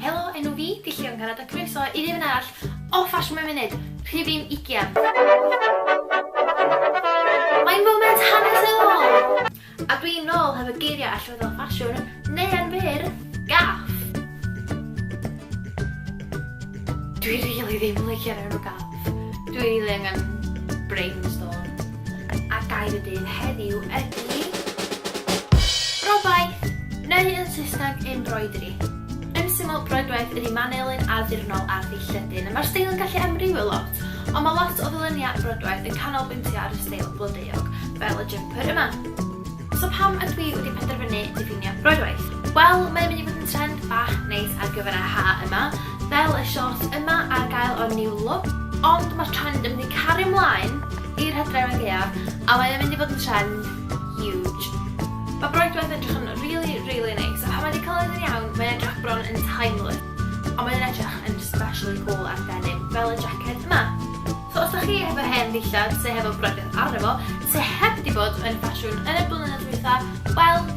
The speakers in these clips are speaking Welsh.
Helo, enw fi, di Llion Garad a croeso i rifyn arall o Fashion Mewn Munud, rhifyn 20. Mae'n foment hanesyddol! A dwi'n nôl hefo geiriau allweddol ffasiwn, neu yn fyr, gaff! Dwi rili ddim yn licio'r enw gaff. Dwi rili angen brainstorm. a gair y dydd heddiw ydy... Brofaith! Neu yn Saesneg, embroidery. Yn syml, broedwaith ydy manylyn addurnol ar ddillledyn. Mae'r steil yn gallu amrywio lot, ond mae lot o ddyluniad broedwaith yn canolbwyntio ar y steil blodeuog, fel y jumper yma. So pam ydw i wedi penderfynu diffinio broadwaith? Wel, mae'n mynd i fod yn trend bach neis ar gyfer y ha yma, fel y shorts yma ar gael o'r New Look, ond mae'r trend yn mynd i cario ymlaen i'r hydref ag eaf, a mae'n mynd i fod yn trend huge. Mae broadwaith edrych yn really, really neis, a pan mae wedi cael yn iawn, mae'n edrych bron yn timeless, ond mae'n edrych yn especially cool ar denim, fel y jacket yma. So os da chi hefo hen ddillad sy hefo brydedd arno fo, sy heb di bod yn ffasiwn yn y blynyddoedd dwytha, wel,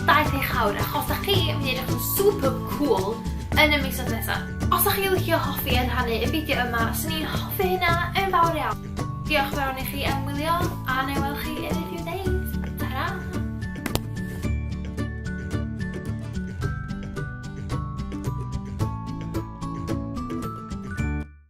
daeth eich hawr, achos da chi yn mynd i edrych yn super cool yn y misoedd nesa. Os da chi licio hoffi yn rhannu y fideo yma, swn i'n hoffi hynna yn fawr iawn. Diolch yn fawr i chi am wylio, a na i weld chi yn y few days.